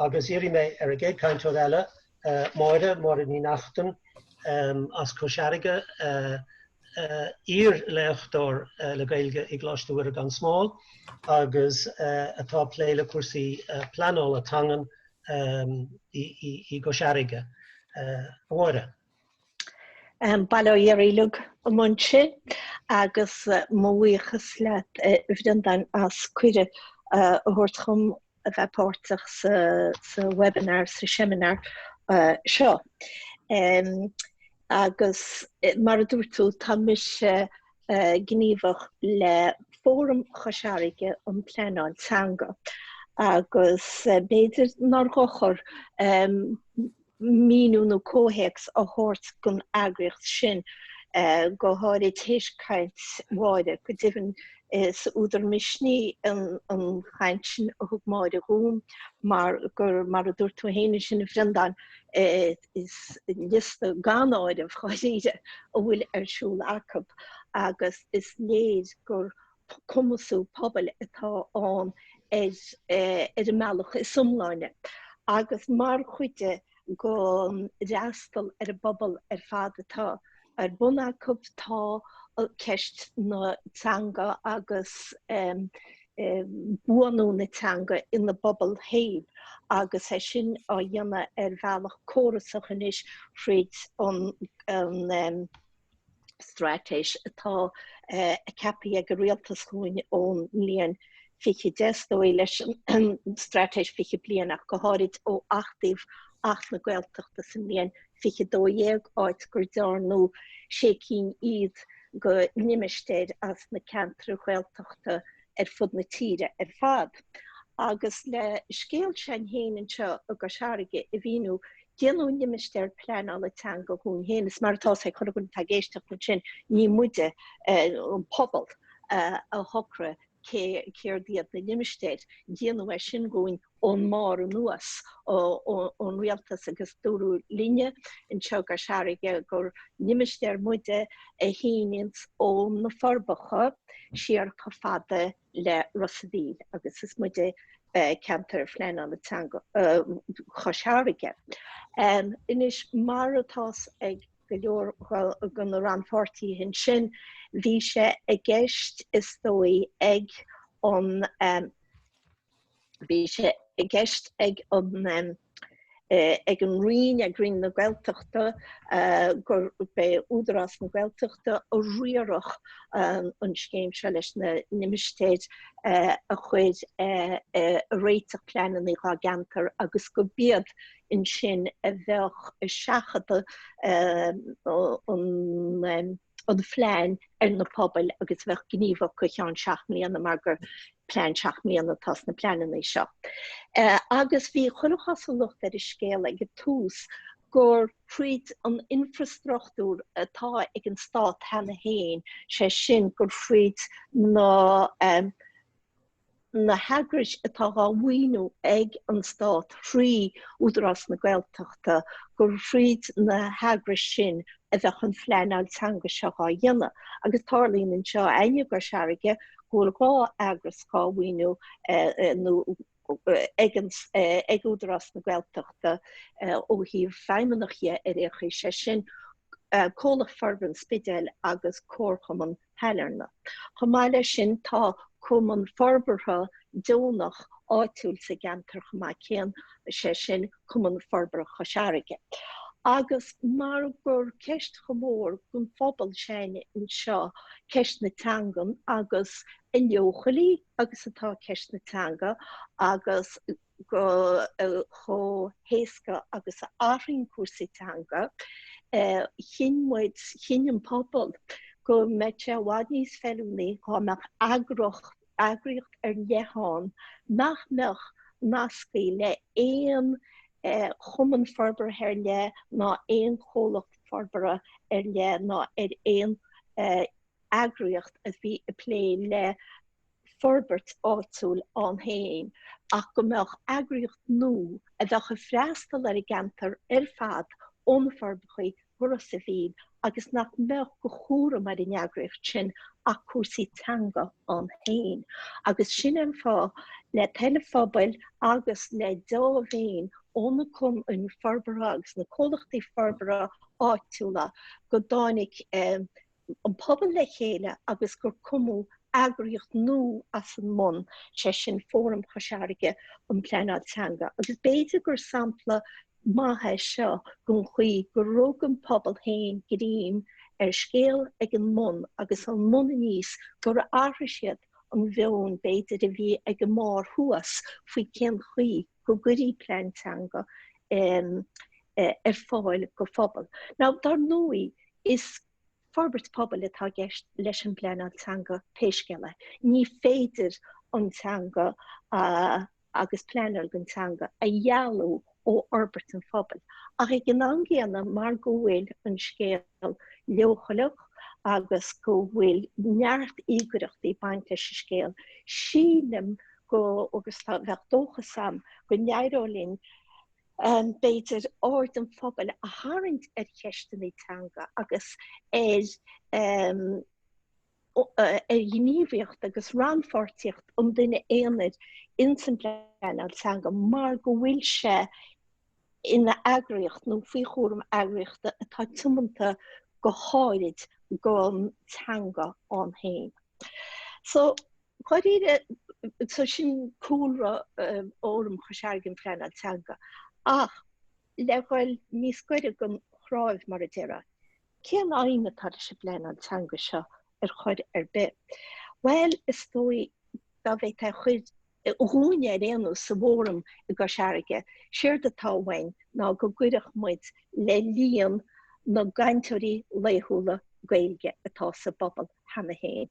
Agus iarrfaidh mé ar an gcéad cainteoir eile, Máire, Máire Ní Neachtain as Cois Fharraige, iar-léachtóir le Gaeilge i gColáiste Mhuire gan Smál agus atá ag plé le cúrsaí pleanála teangan i gCois Fharraige. Máire. Bail ó Dhia oraibh uilig uaimse agus mo bhuíochas leat a Bhreandáin as cuireadh a thabhairt dhom a bheith páirteach sa webinar, sa seimineár seo. Agus mar a dúirt tú tá mise gníomhach le Fóram Chois Fharraige um Pleanáil Teanga agus b'fhéidir nár dhochar, míniú nó comhthéacs a thabhairt don eagraíocht sin, go háirid tar éis caint Mháire. Go deimhin, is údar misnigh an chaint sin a thug Máire dhúinn mar gur, mar a dúirt tú féin ansin a Bhreandáin, is liosta gan áireamh, dháiríre, a bhfuil ar siúl acu agus is léir gur cumasú pobail atá ann ar an mbealach is iomláine agus mar chuid den fhreastal ar an bpobal ar fad atá ar bun acu tá ceist na teanga agus buanú na teanga ina bpobal féin agus é sin á dhéanamh ar bhealach córasach anois thríd an straitéis atá ceapaithe ag an rialtas dhúinn ón mbliain fiche deich is dóigh leis an straitéis fiche bliain ach go háirid ó achtaíodh Acht na Gaeltachta sa mbliain fiche dó dhéag áit gur dearnadh sé cinn fhichead de limistéir as na ceantair Ghaeltachta ar fud na tíre ar fad. Agus le scéal s'againn féin anseo i gCois Fharraige a mhíniú, déanadh Limistéar Pleanála Teanga dhúinn féin. Anois, mar atá's ag chuile dhuine atá ag éisteacht ansin, ní muide, an pobal, a shocraigh céard iad na limistéir, déanadh é sin dhúinn. ón mbarr anuas, ón rialtas agus dúradh linne anseo i gCois Fharraige gur limistéar muide a shíneanns ó na Forbacha siar chomh fada le Ros a' Mhíl agus is muide ceantar pleanála teanga Chois Fharraige. Anois, mar atá's ag go leor de na rannpháirtithe ansin, bhí sé i gceist is dóigh ag an. Bhí sé i gceist ag an ag an Roinn, ag Roinn na Gaeltachta, gurb iad Údarás na Gaeltachta a riarfadh an scéim seo leis na limistéir a chur ag réiteach pleananna dhá gceantar agus gurb iad ansin a bheadh ag seachadadh an an phlean ar na pobail agus a bheadh gníomhach go ceann seacht mbliana mar gur plean seacht mbliana atá sna pleananna seo. Agus bhí chuile chosúlacht ar an scéal ag an tús gur thríd an infreastruchtúr atá ag an stát cheana féin, sé sin gur thríd na. na heagrais atá dhá maoiniú ag an Stát thrí Údarás na Gaeltachta, gur thríd na heagrais sin a bheadh an phleanáil teanga seo á dhéanamh. Agus tarlaíonn anseo i gCois Fharraige go bhfuil dhá eagras dhá maoiniú ag Údarás na Gaeltachta ó thaobh feidhmeannaigh dhe, ar aon chaoi sé sin, Comhlacht Forbartha an Spidéil agus Comharchumann Shailearna. Chomh maith leis sin tá cumann forbartha deonach áitiúil sa gceantar chomh maith céanna, sé sin Cumann Forbartha Chois Fharraige. Agus mar gur ceist chomh mór don phobal féin anseo ceist na teangan agus a leochailí agus atá ceist na teanga agus. go chomh héasca agus a athraíonn cúrsaí teanga. Chinn muid, chinn an pobal go mbeadh sé i bhfad níos feiliúnaí dhá mbeadh eagra eagraíocht ar leith ann nach mbeadh nasctha le haon chumann forbartha ar leith ná aon chomhlacht forbartha ar leith ná ar aon eagraíocht a bhí ag plé le forbairt áitiúil ann féin ach go mbeadh eagraíocht nua a bheadh ag freastal ar an gceantar ar fad ó na Forbachaí go Ros a' Mhíl agus nach mbeadh de chúram ar an eagraíocht sin ach cúrsaí teanga ann féin agus sin é an fáth le toil an phobail agus le dea-mhéin ó na cumainn forbartha agus na comhlachtaí forbartha áitiúla go dtáinig an pobal le chéile agus gur cumadh eagraíocht nua as an mbun, sé sin Fóram Chois Fharraige um Pleanáil Teanga agus b'fhéidir gur sampla maith é seo den chaoi gur rug an pobal féin greim ar an scéal ag an mbun agus ón mbun aníos gur athraigh siad an mheon b'fhéidir a bhí ag an mbarr thuas faoi cén chaoi go gcuirí plean teanga ar fáil do phobal. Now dar ndóigh is forbairt pobail atá gceist leis an bpleanáil teanga pé scéal é. Ní féidir an teanga agus pleanáil don teanga a dhealú ó fhorbairt an phobail. Ach ag an am gcéanna mar go bhfuil an scéal leochaileach agus go bhfuil neart íogaireachtaí baint leis an scéal, sílim go agus tá bheadh dóchas agam go n-éireodh linn b'fhéidir aird an phobail a tharraingt ar cheisteanna teanga agus ar ar ghníomhaíocht agus rannpháirtíocht an duine aonair ins an bpleanáil teanga mar go bhfuil sé ina eagraíocht nó faoi chúram eagraíochta atá tiomanta go háirid don teanga ann féin. So Dháiríre, so sin cúlra fhóram Chois Fhairrge um Phleanáil Teanga ach le dhul níos gaire don chnáimh mar a déarfá, cén aidhm atá leis an bpleanáil teanga seo ar chor ar bith? Bhuel is dóigh dá bhféadfá cur dhúinne ar aon nós sa bhfóram i gCois Fhairrge, séard atá uainn ná go gcuirfeadh muid le líon na gcainteoirí laethúla Gaeilge atá sa bpobal. cheana féin.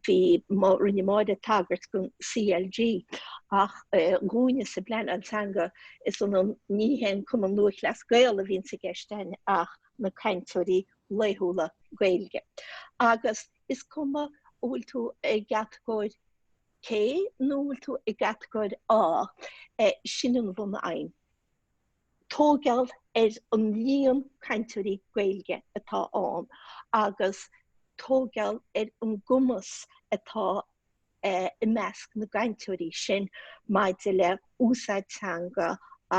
Bhí, rinne Máire tagairt don CLG ach dhúinne sa bpleanáil teanga is ionann, ní hé an Cumann Lúithchleas Gael a bhíonns i gceist againn ach na cainteoirí laethúla Gaeilge. Agus is cuma an bhfuil tú i gcatagóir C nó an bhfuil tú i gcatagóir A, sin an bhunaidhm. tógáil ar an líon cainteoirí Gaeilge atá ann agus tógáil ar an gcumas atá i measc na gcainteoirí sin maidir le úsáid teanga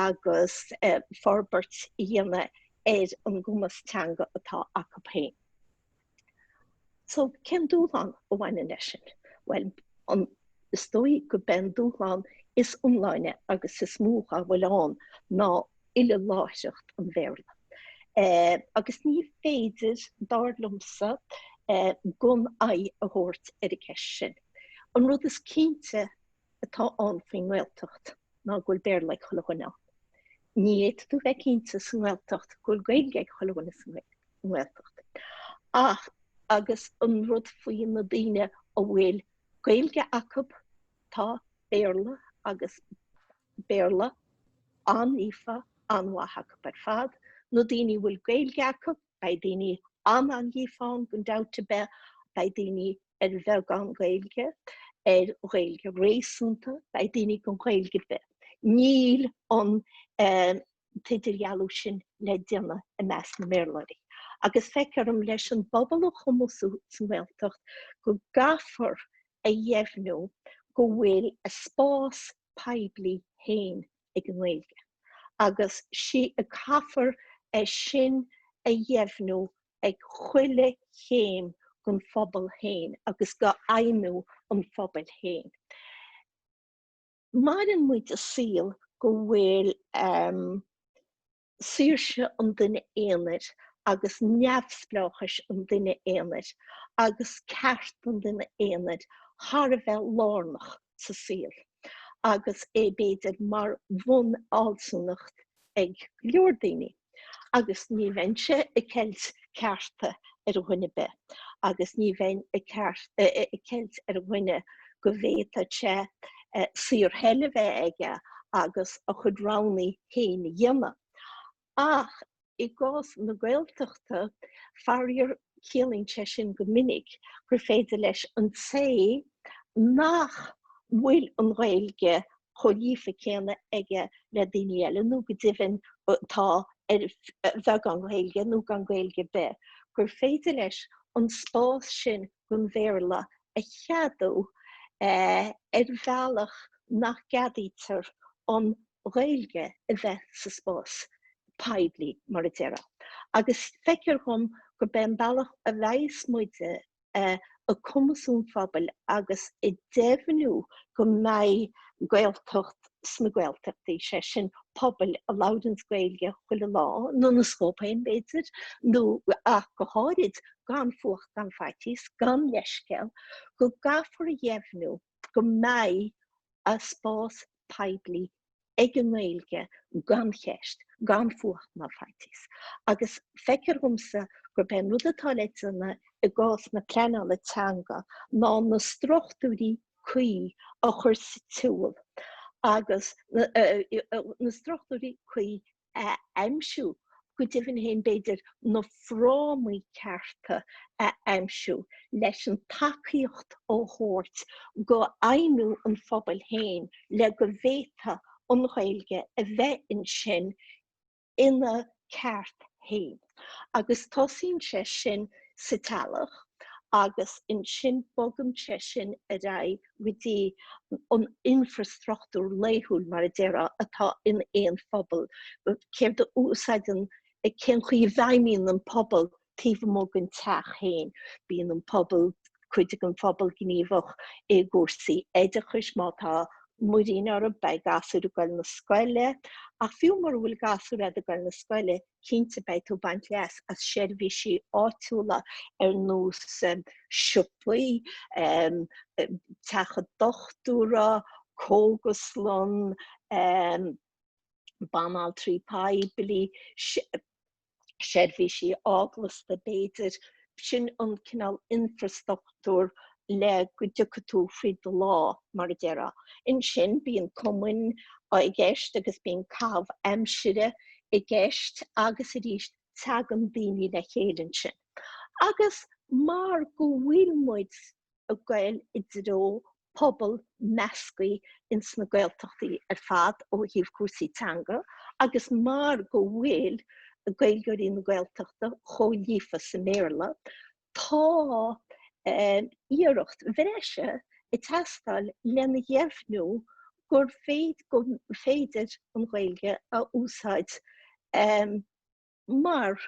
agus forbairt a dhéanamh ar an gcumas teanga atá acu féin. So, cén dúshlán a bhaineann leis sin? Bhuel, an, is dóigh gurb é an dúshlán is iomláine agus is mó dá bhfuil ann ná uileláithreacht an Bhéarla. Agus ní féidir, dar liomsa, gan aghaidh a thabhairt ar an gceist sin. An rud is cinnte atá ann faoin nGaeltacht ná go bhfuil Béarla ag chuile dhuine ann. Ní fhéadfadh tú bheith cinnte sa nGaeltacht go bhfuil Gaeilge ag chuile dhuine sa nGaeltacht. Ach, agus an rud faoi na daoine a bhfuil Gaeilge acu, tá Béarla agus Béarla an-líofa, an-mhaith acu ar fad. Na daoine a bhfuil Gaeilge acu, Beidh daoine an-líofa ann gan dabht ar bith, beidh daoine ar bheagán Gaeilge, ar Ghaeilge réasúnta, beidh daoine gan Ghaeilge ar bith. Níl an t-idirdhealú sin le déanamh i measc na mBéarlóirí. Agus feictear dhom leis an bpobal a chumasú sa nGaeltacht go gcaithfear a dheimhniú go bhfuil a spás poiblí féin ag an nGaeilge agus sea caithfear é sin a dheimhniú ag chuile chéim den phobal féin agus de fheidhmiú an phobail féin. Maireann muid i saol go bhfuil ehm. saoirse an duine aonair agus neamhspleáchais an duine aonair agus ceart an duine aonair thar a bheith lárnach sa saol agus é b'fhéidir mar bhun-fhealsúnacht ag go leor daoine agus ní bheinnse ag ceilt cearta ar dhuine ar bith agus ní bheinn ag ceilt ar dhuine go bhféadfadh sé saorthoil a bheith aige agus a chuid roghanna féin a dhéanamh. Ach i gcás na Gaeltachta, faraor, ciallaíonn sé sin go minic gur féidir leis an té nach bhfuil an Ghaeilge chomh líofa céanna aige le daoine eile nó go deimhin atá ar bheagán Gaeilge nó gan Gaeilge ar bith, gur féidir leis an spás sin don Bhéarla a cheadú ar bhealach nach gceadaítear an Ghaeilge a bheith sa spás poiblí, mar a déarfá. Agus feictear dhom gurb é an bealach a bheas muide ag cumasú an phobail agus ag deimhniú go mbeidh Gaeltacht sna Gaeltachtaí, sé sin pobail a labhraíonns Gaeilge chuile lá, nó na scóip féin b'fhéidir, nó ach go háirid, gan fuacht gan faitíos, gan leithscéal, go gcaithfear a dheimhniú go mbeidh a spás poiblí ag an nGaeilge gan cheist, gan fuacht ná faitíos. Agus feictear dhomsa gurb é an rud atá le déanamh i gcás na pleanála teanga ná na struchtúirí cuí a chur sa tsiúl agus na struchtúirí cuí a aimsiú, go deimhin féin b'fhéidir na frámaí cearta a aimsiú leis an tacaíocht a thabhairt do fheidhmiú an phobail féin le go bhféadfadh an Ghaeilge a bheith ansin ina ceart féin. agus tosaíonn sé sin sa teaghlach agus ansin bogann sé sin ar aghaidh go dtí an infrastruchtúr laethúil mar a déarfá atá in aon phobal, céard a úsáideann, cén chaoi a bhfeidhmíonn an pobal taobh amuigh den teach féin. Bíonn an pobal, cuid den phobal gníomhach i gcúrsaí oideachais, má tá muirín orthu beidh gasúir ag goil na scoile ach fiú mura bhfuil gasúir a'd ag goil na scoile, cinnte beidh tú ag baint leas as seirbhísí áitiúla ar nós siopaí, teach an dochtúra, cógaslann, banaltraí poiblí, seirbhísí eaglasta b'fhéidir. Sin an cineál infreastruchtúir le go dtiocfaidh tú faoi do lá, mar a déarfá. Ansin bíonn cumainn i gceist agus bíonn caitheamh aimsire i gceist agus arís teagann daoine le chéile ansin. Agus mar go bhfuil muid ag goil i dtreo pobal measctha ins na Gaeltachtaí ar fad ó thaobh cúrsaí teanga agus mar go bhfuil Gaeilgeoirí na Gaeltachta chomh líofa sa mBéarla tá iarracht bhreise ag teastáil lena dheimhniú gur féidir an Ghaeilge a úsáid mar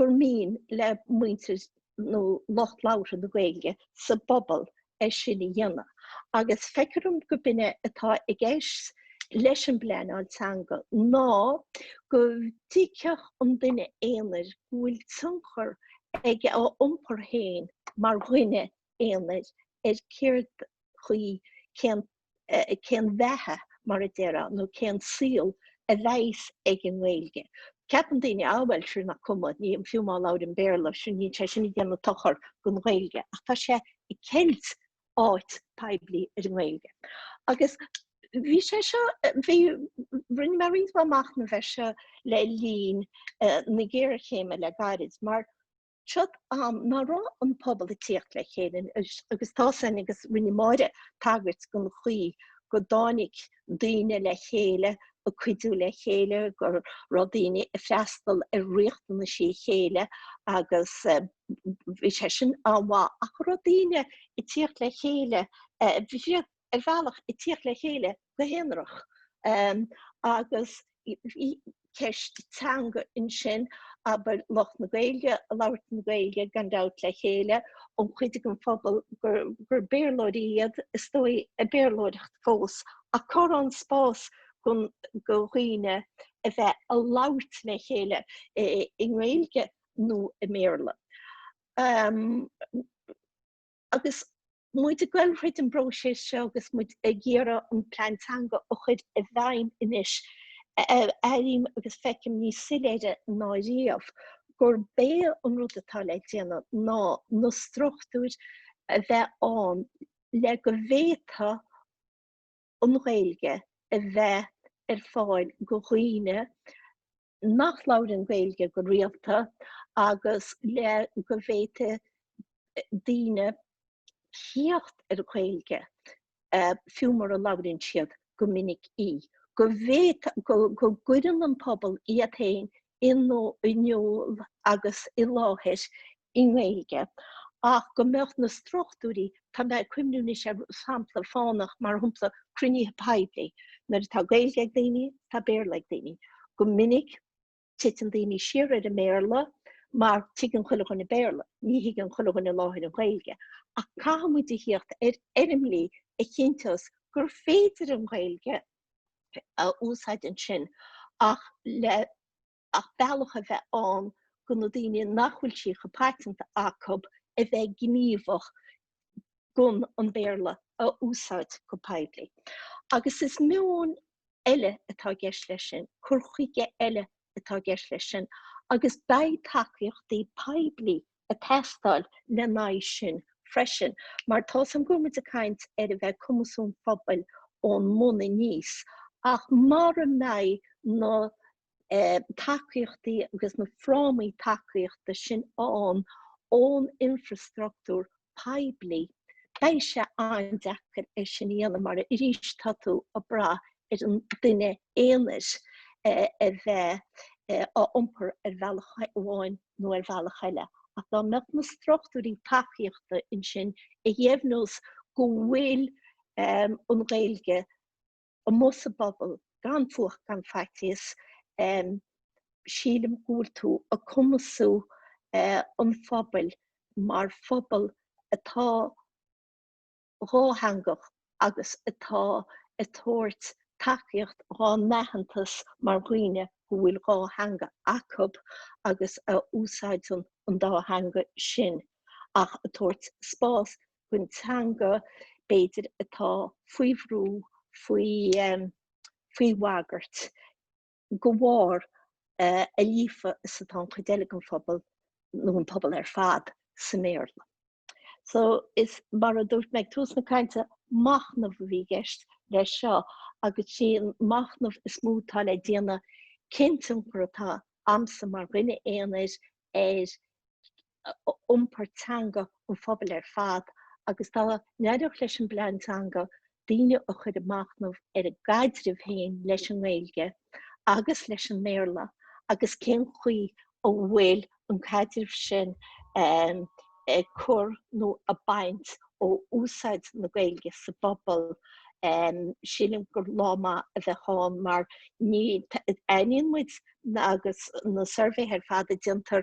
gur mian le muintir nó lucht labhartha na Gaeilge sa bpobal é sin a dhéanamh agus feictear dom gur b'in é atá i gceist leis an bpleanáil teanga ná go dtuigfeadh an duine aonair go bhfuil tionchar ag a iompar féin mar dhuine aonair ar céard chaoi, cén. cén bheatha, mar a déarfá, nó cén saol a bheas ag an nGaeilge. Ceapann daoine, ah bhuel, sure, nach cuma, ní, fiú má labhraím Béarla, sure, níl sé sin ag déanamh dochar don Ghaeilge, ach tá sé ag ceilt áit poiblí ar an nGaeilge. Agus bhí sé seo, bhí, rinne mé roinnt mhaith machnaimh air seo le linn na géarchéime le gairid, mar, Seo am nár raibh an pobal ag tíocht le chéile agus tá sin agus rinne Máire tagairt den chaoi go dtáinig daoine le chéile ag cuidiú le chéile, go raibh daoine ag freastal ar riachtanaisí a chéile agus bhí sé sin an-mhaith ach ní raibh daoine ag tíocht le chéile. ar bhealach ag tíocht le chéile go haonarach agus bhí ceist teanga ansin, abair lucht na Gaeilge ag labhairt na Gaeilge gan dabht le chéile, an chuid den phobal gur Béarlóirí iad is dóigh ag Béarlóireacht fós ach cur an spás go dhaoine a bheith ag labhairt le chéile i nGaeilge nó i mBéarla. Agus muid ag goil thríd an bpróiseas seo agus muid ag iarraidh an plean teanga a chuir i bhfeidhm anois, airím agus feicim níos soiléire ná riamh gurb é an rud atá le déanamh ná na struchtúir a bheith ann le go bhféadfadh an Ghaeilge a bheith ar fáil go dhaoine nach labhrann Gaeilge go rialta agus le go bhféadfadh daoine tíocht ar an Ghaeilge, fiú mara labhrann siad go minic í, go gcuireann an pobal iad féin in iúl agus i láthair i nGaeilge ach go mbeadh na struchtúirí, tá mé ag cuimhniú anois ar shampla fánach mar shampla cruinnithe poiblí, nuair atá Gaeilge ag daoine, tá Béarla ag daoine. Go minic titeann daoine siar ar an mBéarla mar tuigeann chuile dhuine Béarla, ní thuigeann chuile dhuine i láthair an Ghaeilge ach caithfidh muid a thíocht ar fhoirmlí a chinnteós gur féidir an Ghaeilge a úsáid ansin ach le ach bealach a bheith ann go na daoine nach bhfuil sí chomh paiteanta acub a bheith gníomhach gan an Béarla a úsáid go poiblí. Agus is meon eile atá i gceist leis sin, cur chuige eile atá i gceist leis sin agus beidh tacaíochtaí poiblí ag teastáil lena aghaidh sin freisin. Mar tá suim, go bhfuil muid ag caint ar a bheith ag cumasú pobail ón mbun aníos, ach mara mbeidh na. tacaíochtaí agus na frámaí tacaíochta sin ann ón infreastruchtúr poiblí, beidh sé an-deacair é sin a dhéanamh mar arís tá tú ag brath ar an duine aonair a bheith á iompar ar bhealach amháin nó ar bhealach eile. Ach dá mbeadh na struchtúirí tacaíochta ansin a dheimhneos go bhfuil an Ghaeilge amuigh sa bpobal gan fuacht gan faitíos sílim go bhfuil tú ag cumasú an phobail mar phobal atá dhátheangach agus atá ag tabhairt tacaíocht dhá n-aitheantas mar dhaoine go bhfuil dhá theanga acub agus a úsáideann an dá theanga sin ach ag tabhairt spás gon teanga b'fhéidir atá faoi bhrú, faoi bhagairt, de bharr a líofa is atá an chuid eile den phobal nó an pobal ar fad sa mBéarla. So mar a dúirt mé ag tús na cainte, machnamh a bhí i gceist leis seo agus sí an machnamh is mó atá le déanamh cén tionchar atá agamsa mar dhuine aonair ar iompar teanga an phobail ar fad agus dá n-eireodh leis an bPlean Teanga daoine a chur ag machnamh ar a gcaidreamh féin leis an nGaeilge agus leis an mBéarla agus cén chaoi a bhfuil an caidreamh sin ag cur nó ag baint ó úsáid na Gaeilge sa bpobal, sílim gur lá maith a bheadh ann mar ní, aithníonn muid agus na suirbhéithe ar fad a déantar,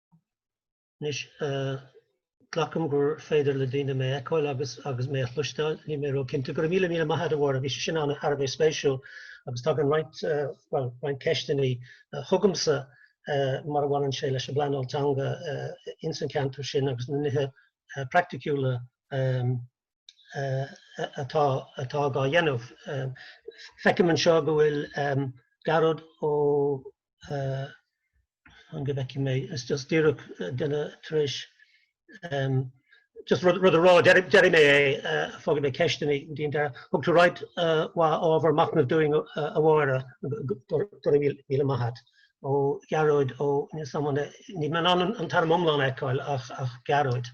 Anois, glacaim gur féidir le daoine mé a fheiceáil agus agus mé a chloisteáil, níl mé róchinnte. Go raibh míle míle maith agat a Mháire, bhí sé sin thar a bheith spéisiúil agus tagann roinnt bhuel roinnt ceisteannaí chugamsa mar a bhaineann sé leis an bpleanáil teanga ins an ceantar sin agus na nithe praiticiúla atá á dhéanamh. Feicim anseo go bhfuil Gearóid Ó An go bhfeicfidh mé is just díreach duine tar éis just rud a rá déarfaidh mé é fágfaidh mé ceisteannaí go deireadh. Thug tú roinnt mhaith ábhar machnaimh dúinn a Mháire. Go raibh míle maith agat. Ó Gearóid Ó Níl sam an níl mé in ann an t-ainm iomlán a fheiceáil ach Gearóid.